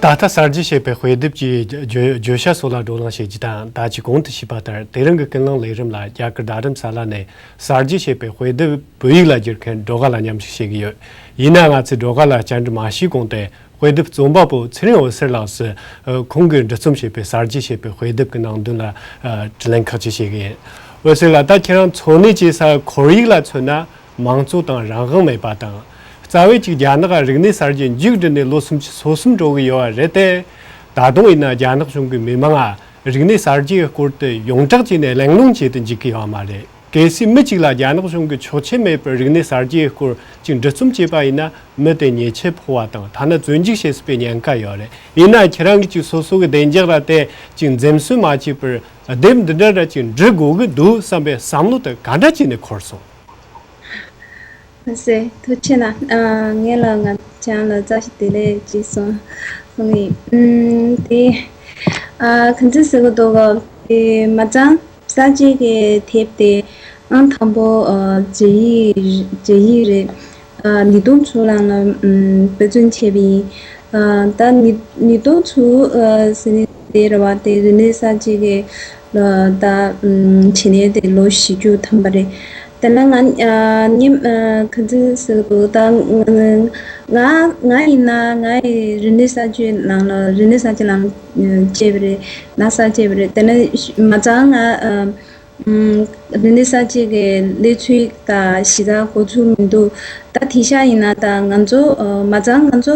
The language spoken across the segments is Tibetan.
ད་ལྟ་གསར་བརྗེ་བྱས་པའི་དཔེ་དེབ་ཀྱི་བརྗོད་བྱ་སོགས་ལ་བགྲོ་གླེང་བྱེད་རྒྱུ་དང་ད་ཅི་གོང་དུ་བྱས་པ་ལྟར་དེ་རིང་གི་སྐུལ་སློང་ལས་རིམ་ལ་རྒྱ་གར་རྡ་རམ་ས་ལ་ནས་གསར་བརྗེ་བྱས་པའི་དཔེ་དེབ་བོད་ཡིག་ལ་བསྒྱུར་མཁན་སྒྲོལ་དཀར་ལ་མཉམ་ཞུགས་བྱེད་ཀྱི་ཡོད། ཡིན་ན་ང་ཚོས་སྒྲོལ་དཀར་ལ་བཅར་འདྲི་མ་ཞུས་གོང་དེ་དཔེ་དེབ་རྩོམ་པ་པོ་ཚེ་རིང་འོད་ཟེར་ལགས་སུ་ཁོང་གིས་འབྲི་རྩོམ་བྱས་པའི་གསར་བརྗེ་ཞེས་པའི་དཔེ་དེབ་ཀྱི་ནང་དོན་ལ་དྲི་ལན་ཁག་ཅིག་བྱེད་ཀྱི་ཡིན། འོད་ཟེར་ལགས་ད་ཁྱེད་རང་འཚོ་གནས་བྱེད་ས་ཁོར་ཡིག་ལ་མཚོན་ན་མང་གཙོ་དང་རང་དབང་མེད་པ་དང། རྩ་བའི་གཅིག་རྒྱ་ནག་རིག་གནས་གསར་བརྗེ་མཇུག་བསྒྲིལ་ནས་ལོ་སུམ་ཅུ་སོ་གསུམ་འགྲོ་གི་ཡོད་པ་རེད་དེ། ད་དུང་ཡིན་ན་རྒྱ་ནག་གཞུང་གི་མི་མང་རིག་གནས་གསར་བརྗེའི་སྐོར་དུ་ཡོངས་གྲགས་ཀྱི་ནས་གླེང་སློང་བྱེད་དུ་འཇུག་གི་ཡོད་མ་རེད། གལ་སྲིད་མི་གཅིག་ལ་རྒྱ་ནག་གཞུང་གི་ཆོག་མཆན་མེད་པར་རིག་གནས་གསར་བརྗེའི་སྐོར་གཅིག་འབྲི་རྩོམ་བྱས་པ་ཡིན་ན་མི་དེ་ཉེས་ཆད་ཕོག་བ་དང་ཐ་ན་བཙོན་འཇུག་བྱེད་སྲིད་པའི་ཉེན་ཁ་ཡོད་རེད་ཡིན་ན་ཁྱེད་རང་གིས་ཅིག་སོ་སོ་གི་བདེ་འཇགས་ར་དེ་གཅིག་འཛེམ་ཟོན་མ་བྱས་པར་དེབ་འདི་འདྲ་ར་གཅིག་འབྲི་དགོས་ཀྱི་འདུག་བསམ་པའི་བསམ་བློ་དེ་ག་འདྲ་བྱས་ནས་འཁོར་སོང། ལྷ་སའི་ཐུགས་ཆེ་ན་ངེད་ལ་ང་ཅག་ལ་རྩྭ་ཞིག་དེ་ལས་ཅི་སོང་གསུངས་ཡིན། དེ་གང་ཚེ་ཟེར་གི་འདུག་དེ་མ་ཚང་ས་གཅིག་གི་ཐེབས་དེ་ཨང་དང་པོ་རྗེ་ཡིག་རེད། ནི་དུང་ཆུ་ལང་ལ་འབོད་བརྩོན་བྱས་པ་ཡིན། ད་ནི་དུང་ཆུ་ཟེར་ནི་དེ་རེད་བ་དེ་རི་ནི་ས་གཅིག་གི། ད་ཕྱི་ནས་དེ་ལོ་བཞི་བཅུ་ཐམ་པ་རེད། དེ་ན་ང་ཉིད་ག་ཚོད་སོས་དགོས་ད། ང་ཡིན་ན་ང་ཡི་རི་ནི་ས་ཆུའི་ནང་ལ་རི་ནི་ས་ཆུ་ནང་སྐྱེས་པ་རེད། ན་བཟའ་སྐྱེས་པ་རེད། དེ་ན་མ་ཚང་ང་རི་ནི་ས་སྐྱེས་ཀྱི་ལས་ཚུལ་དང་གཞི་རྩ་གོ་ཚུལ་མི་འདུག་ད་དེ་ཤ་ཡིན་ན་ད་ང་ཚོ་མ་ཚང་ང་ཚོ།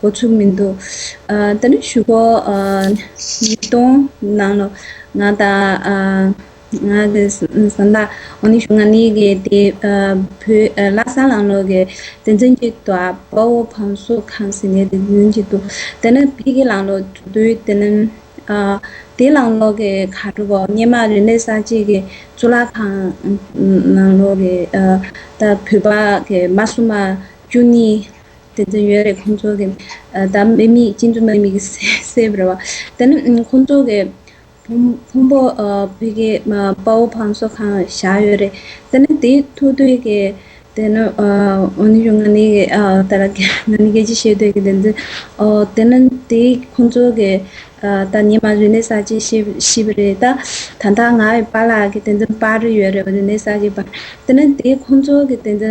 འགོ་ཚུགས་མི་འདུག་ད་ནི་ཞུ་སྒོ་མི་གཏོང་ནང་ལོ། ང་དང་ང་གི་བཟའ་ཟླ་འོ་ནི་ཞུ་ང་ནི་གི་དེ་བོད་ལ་སང་ལང་ལོ་གི་བདེན་རྫུན་གྱི་དོ་ཨ་པ་བོ་བམ་སོ་ཁམས་སི་ནི་དེ་གུན་གྱི་དུ་དེ་ནི་བི་གི་ལང་ལོ་དུ་དུའི་དེ་ནི་དེ་ལང་ལོ་གི་ག་དྲུ་བོ་སྙེ་མ་རི་ནི་ས་གཅིག་གི་གཙུག་ལག་ཁང་ནང་ལོ་གི་ད་བོད་པ་གི་མ་སུ་མ་བཅུ་གཉིས་དེ་ཚོ་ཡོད་རེད་ཁོང་ཚོ་གི་ད་མི་མི་གཅིག་མཚུངས་མི་མི་གི་སེ་བར་བ། དེ་ནི་ཁོང་ཚོ་གི་ཕུང་པོ་བོད་ཀྱི་དཔའ་བོ་བང་སོ་གང་བཞག་ཡོད་རེད་དེ་ནི་དེ་ཐུགས་འདོད་ཀྱི་དེ་ནི་འོ་ནི་ཞོ་ང་ནི་གི་ད་ར་གི་ང་ནི་གི་ཅི་བྱེད་འདོད་ཀྱི་དེ་ཚོ་དེ་ནི་དེ་ཁོང་ཚོ་གི་ད་ཉི་མ་རི་ནས་ས་གཅིག་ཤི་བ་རེད་ད་ད་ལྟ་ང་ཡི་པ་ལགས་ཀྱི་དེ་ཚོ་པར་ཡོད་རེད་བ་རི་ནས་ས་གཅིག་པར་དེ་ནི་དེ་ཁོང་ཚོ་གི་དེ་ཚོ་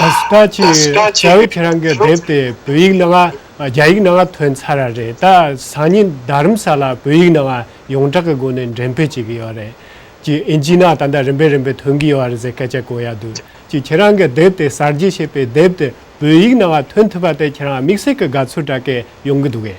ད་སི་ཏྲ་ཆི་ཡིས་རྒྱ་བོད་ཁྱེད་རང་གི་དེབ་དེ་བོད་ཡིག་ནང་རྒྱ་ཡིག་ནང་ཐོན་ཚར་ར་རེད་ད་སང་ཉིན་རྡ་རམ་ས་ལ་བོད་ཡིག་ནང་ཡོངས་གྲགས་ཀྱི་སྒོ་ནས་འགྲེམས་སྤེལ་བྱེད་ཀྱི་ཡོད་རེད་ཅེས་ཨིན་ཇི་ནང་ད་ལྟ་རིམ་པས་རིམ་པས་ཐོན་གྱི་ཡོད་རེད་ཟེར་སྐད་ཆ་གོ་ཡ་འདུག་ཅེས་ཁྱེད་རང་གི་དེབ་དེ་གསར་བརྗེ་བྱས་པའི་དེབ་དེ་བོད་ཡིག་ནང་ཐོན་ཐུབ་པ་དེ་ཁྱེད་རང་དམིགས་བསལ་གྱི་དགའ་ཚོར་དྲག་སྐྱེད་ཡོང་གི་འདུག་གས།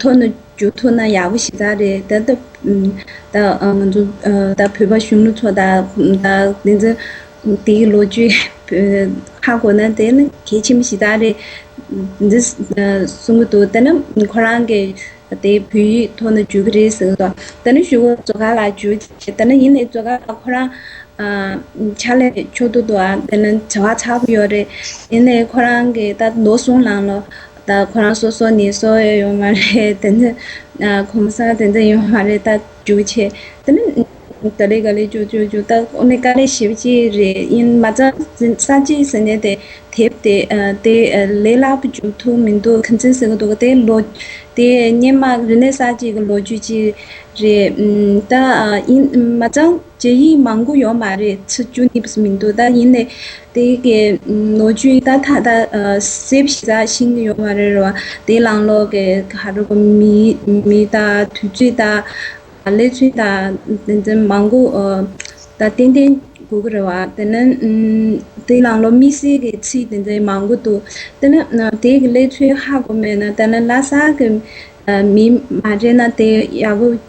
ཐོན་ནས་རྒྱུ་ཐོན་ན་ཡག་པོ་ཞིག་ད་རེད་ད། ད་བོད་པ་གཞོན་ནུ་ཚོ་ད་དེ་ཚོ་དེའི་ལོ་རྒྱུས་ཧ་གོ་ན་དེ་ནི་གལ་ཆེན་པོ་ཞིག་ད་རེད། འདི་གསུང་གི་འདུག་ད་ནི་ཁོ་རང་གི་དེ་བོད་ཡིག་ཐོན་ནས་རྒྱུ་གི་རེད་ཟེར་གི་འདུག་ད་ནི་ཞུ་བོ་མཛོ་དགའ་ལགས་རྒྱུ་བྱས་ད་ནི་ཡིན་ནའི་མཛོ་དགའ་ལགས་ཁོ་རང་ཕྱག་ལས་ཕྱོགས་བསྡུ་དུའང་དེ་ནི་བྱ་བ་ཚར་བ་ཡོད་རེད་དེ་ནས་ཁོ་རང་གི་ད་ནོར་སྲུང་ལང་ལོ། ད་ཁོ་རང་སོ་སོ་ནས་སོ་ཨེ་ཡོད་མ་རེད་དེ་འདི་གོམ་ས་དེ་འདི་ཡོད་མ་རེད་ད་རྒྱུགས་ཆེ་དེ་ནི་ག་ལེ་ག་ལེ་རྒྱུགས་རྒྱུགས་རྒྱུགས་ད་ཁོ་ནི་ག་ལེ་ཞིབ་གཅིག་རེད་ཡིན་མ་ཚ་ས་གཅིག་ཟེར་ནས་དེ་དེབ་དེ་དེ་ལས་སླ་པོ་རྒྱུགས་ཐུབ་མི་འདུག་གི་འཛིན་ཟེར་གི་འདུག་དེ་ལོ་དེ་སྙན་དམག་རི་ནས་ས་གཅིག་གི་ལོ་རྒྱུས་གཅིག་རེད་ད་ཡིན་མ་ཚང། རྗེ་ཡིས་མང་པོ་ཡོད་མ་རེད་ཚིག་བཅུ་གཉིས་པ་མི་འདུག་ད་ཡིན་ནའི་དེ་གའི་ནོར་བཅུ་ཡིས་ད་ད་གསེབ་བཞི་ཟ་ཞིང་ཡོད་མ་རེད་རོ་དེ་ལང་ལོག་གི་ག་རེ་གོ་མི་མི་ད་དུས་ཚོད་ད་ལས་ཚུན་ད་དེ་འདྲ་མང་པོ་ད་ཏན་ཏན་གོ་གི་རེད་བ་དེ་ན་དེ་ལང་ལོག་དམིགས་བསལ་གི་ཚིག་དེ་འདྲ་མང་པོ་འདུག་དེ་ན་དེ་གི་ལས་ཚུལ་ཧ་གོ་མེད་ན་ད་ལ་ལ་ས་གི་མི་མ་རེད་ན་དེ་ཡག་པོ།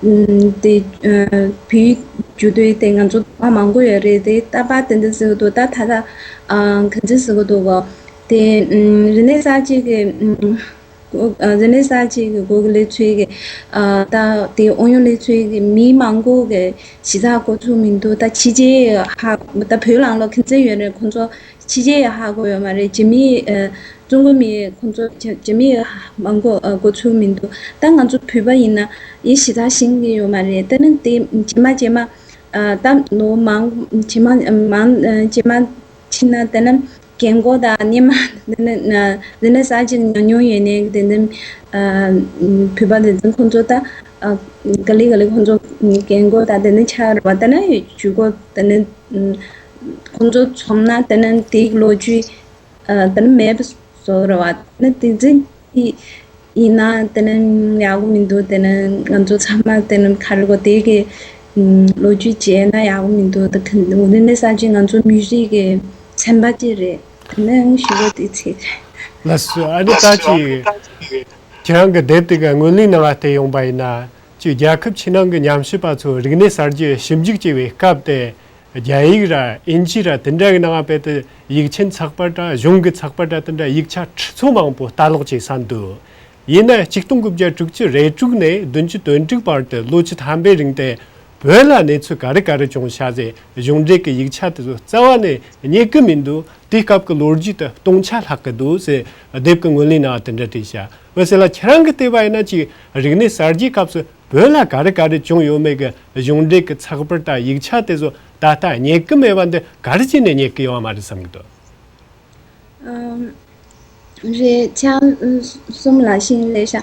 དེ་བུའི་རྒྱུ་དོན་དེ་ང་ཚོ་ལ་མང་པོ་ཡོད་རེད་དེ་ལྟ་བ་དེ་འདྲ་ཟེར་གི་འདུག་ད་ད་ལྟ་གང་ཅི་ཟེར་གི་འདུག་གོ། དེ་རི་ནས་ས་གཅིག་གི་རི་ནས་ས་གཅིག་གི་སྒོ་གི་ལས་འཚོལ་གི་ད་དེ་ཨོ་ཡོན་ལས་འཚོལ་གི་མི་མང་པོ་གི་གཞི་རྩ་གོ་ཚུགས་མི་འདུག་ད་ཕྱི་རྒྱལ་ཧ་ད་བོད་ལང་ལོག་མཁན་ཆེན་ཡོད་རེད་ཁོང་ཚོ། ཕྱི་རྒྱལ་ཡི་ཧ་གོ་ཡོད་མ་རེད་རྗེ་མི་ཡིས། ཀྲུང་གོ་མི་ཡིས་ཁོང་ཚོ་རྗེ་མི་ཡིས་མ་གོ་གོ་ཚུལ་མི་འདུག་ད་ང་ཚོ་བོད་པ་ཡིན་ན་ཡིད་ཞི་དྲག་ཞིང་གི་ཡོད་མ་རེད་ད་ནི་དེ་རྗེ་མ་རྗེ་མ། ད་ནོ་མང་རྗེ་མ་མང་རྗེ་མ་ཕྱིན་ན་དེ་ནི་རྒན་མགོ་དང་སྙེ་མ་དེ་ནི་དེ་ནི་ཟ་ཅིག་ཉོ་ཉོ་ཡོད་ནའི་དེ་ནི། བོད་པ་དེ་ཚོ་ཁོང་ཚོ་ད་ག་ལི་ག་ལི་ཁོང་ཚོ་རྒན་མགོ་དང་དེ་ནི་ཆགས་རེད་བ་ད་ནི་ཇུས་མགོ་དེ་ནི། ཁོང་ཚོ་ཚོམ་ན་དེ་ནི་དེའི་ལོ་རྒྱུས་དེ་ནི་མེད་བཟོ་རུ་བ་ནི་དེ་འཛིན་གྱི་ཡིན་ན་དེ་ནི་ཡག་པོ་མི་འདུག་དེ་ནི་ང་ཚོ་ཚང་མ་དེ་ནི་ཁ་རི་གོ་ཏའི་གི་ལོ་རྒྱུས་བྱས་ན་ཡག་པོ་མི་འདུག་དེ་འོ་ན་ནི་ས་བྱི་ང་ཚོ་མི་རིགས་ཀྱི་ཚན་པ་གཅིག་རེད་དེ་ནི་ཞི་བ་དེའི་ཚེ་ཁ་ལ་སོས་ཨ་ནི་ད་ཅི་ཁྱེད་རང་གི་དེབ་དེ་ག་དངོས་གླིང་ནང་ལ་བལྟས་ཡོང་པ་ཡིན་ན་ཅི་རྒྱལ་ཁབ་ཕྱི་ནང་གི་ཉམས་ཞིབ་པ་ཚོས་རིག་གནས་གསར་བརྗེ་ཞིབ་འཇུག་བྱེད་པའི་སྐབས་དེ་རྒྱ་ཡིག་ར་ཨིན་ཇི་ར་དེ་འདྲ་གི་ནང་དཔེ་དེ་ཡིག་ཆེན་ཚགས་པར་དྲ་གཞུང་གི་ཚགས་པར་དྲ་དེ་འདྲ་ཡིག་ཆ་ཁྲི་ཚོ་མང་པོ་ལྟ་ཀློག་བྱས་ས་འདུག་ཡིན་ན་གཅིག་སྟོང་དགུ་བརྒྱ་དྲུག་ཅུ་རེ་དྲུག་ནས་བདུན་ཅུ་དོན་དྲུག་བར་དུ་ལོ་བཅུ་ཐམ་པའི་རིང་དེ་བོད་ལ་གནས་ཚུལ་ག་རེ་ག་རེ་བྱུང་ཤ་ཟའི་གཞུང་འབྲེལ་གི་ཡིག་ཆ་དེ་ཚོ་རྩ་བ་ནས་རྙེད་གི་མི་འདུག་དེའི་སྐབས་ཀྱི་ལོ་རྒྱུས་དེ་སྟོང་ཆ་ལྷག་གི་འདུག་ཟེར་དེབ་ཀྱི་ངོས་ལེན་ནང་དེ་འདྲ་བྲིས་ཤ་འོད་ཟེར་ལ་ཁྱེད་རང་གི་ལྟོས་པ་ཡིན་ན་ཅིག་རིག་གནས་གསར་བརྗེའི་སྐབས་སུ། བོད་ལ་ག་རེ་ག་རེ་བྱུང་ཡོད་མེད་ཀྱི་གཞུང་འབྲེལ་གྱི་ཚགས་པར་དང་ཡིག་ཆ་དེ་ཚོ་ད་ལྟ་རྙེད་ཀྱི་མེད་པ་འདི་ག་རེ་བྱས་ནས་རྙེད་ཀྱི་ཡོད་ཨང་མ་རེད་བསམ་གྱི་འདུག། རེད། ཆང་གསུམ་ལ་ཤིང་ལས་ཤ་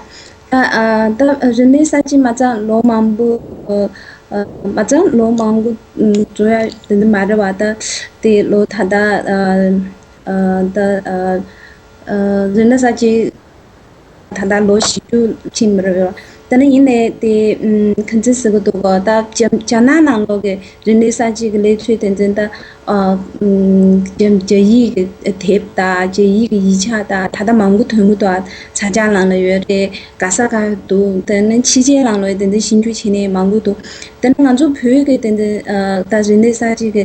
སྟག་རིན་མེད་ས་ཅི་མ་ཙང་ལོ་མང་པོ་མ་ཙང་ལོ་མང་པོ་བྲོ་ཡ་དེ་འདི་མ་རེད་བ་ད་དེ་ལོ་ད་ད་ད་རིན་མེད་ས་ཅི་ད་ལྟ་ལོ་བཞི་བཅུ་ཕྱིན་པར་འོས། ད་ནི་ཡིན་ནས་དེ་གང་ཚེ་ཟེར་གི་འདུག་གོ། ད་རྒྱ་ནག་ནང་ལོག་གི་རིག་གནས་གསར་བརྗེ་གི་ལས་ཚུལ་དེ་ཚོ་དང། རྒྱ་ཡིག་གི་དེབ་དང་རྒྱ་ཡིག་གི་ཡིག་ཆ་དང་ད་ལྟ་མང་པོ་དོན་དགུ་དང་ས་སྐྱ་ལང་ལ་ཡོད་རེད་ག་ས་ག་འདུག་ད་ནི་ཕྱི་རྒྱལ་ལང་ལོག་དེ་འདྲའི་ཤིང་རྒྱུ་བྱེད་ནི་མང་པོ་འདུག་ད་ནི་ང་ཚོ་བོད་ཀྱི་དེ་འདྲའི་ད་རིག་གནས་གསར་བརྗེ་གི།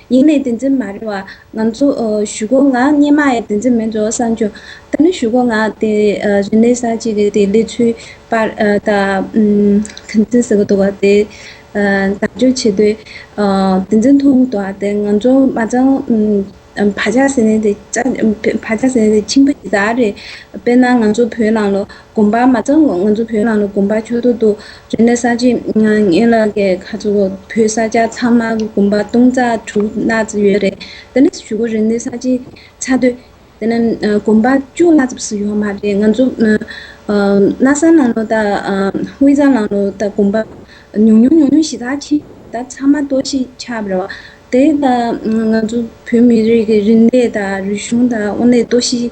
ཡིན་ནའི་དེ་འཛིན་མ་རེད་བ། ང་ཚོ་ཞུ་སྒོ་ང་སྙེ་མ་ཡའི་དེ་འཛིན་མེད་འགྲོ་བསམ་རྒྱུ། ད་ནི་ཞུ་སྒོ་ང་དེ་རི་ནས་ས་གཅིག་གི་དེ་ལས་ཚུལ་པར་ད་དེ་འཛིན་ཟེར་གི་འདུག་བ་དེ་དག་འཇོག་བྱེད་དུས་དེ་འཛིན་མཐོང་གི་འདུག་བ་དེ་ང་ཚོ་མ་ཚང་བ་ཇག་ཟེར་ནའི་དེ་ཇག་བ་ཇག་ཟེར་ནའི་དེ་ཁྱིམ་པ་ཇི་ལྟར་རེད་དཔེར་ན་ང་ཚོ་བོད་ནང་ལོ་དགོན་པར་མ་བཙངས་གོང་ང་ཚོ་བོད་ནང་ལ་དགོན་པ་ཁྱོ་ཏོ་འདུག་རེ་ནས་ས་བྱི་ངན་ལ་ཀའི་ཁ་ཚོ་བོད་ས་སྐྱ་ཚང་མ་གི་དགོན་པ་སྟོང་རྩ་དྲུག་ལྷག་ཙམ་ཡོད་རེད་དེ་ནས་ཞུ་གོ་རེ་ནས་ས་བྱི་ཚ་སྡོད་དེ་ནས་དགོན་པ་བཅུ་ལྷག་ཙམ་ཞིག་ཡོད་མ་རེད་ང་ཚོ་དྷ་ས་ནང་ལོ་དང་དབུས་གཙང་ནང་ལོ་དང་དགོན་པ་ཉུང་ཉུང་ཉུང་ཉུང་ཞིག་དག་ཆེ་དག་ཚང་མ་གཏོར་ཤིག་ཆགས་རེད་བ་དེ་དང་ང་ཚོ་བོད་མི་རིགས་ཀྱི་རིག་གནས་དང་རིག་གཞུང་དང་དབུ་ནས་གཏོར་ཤིག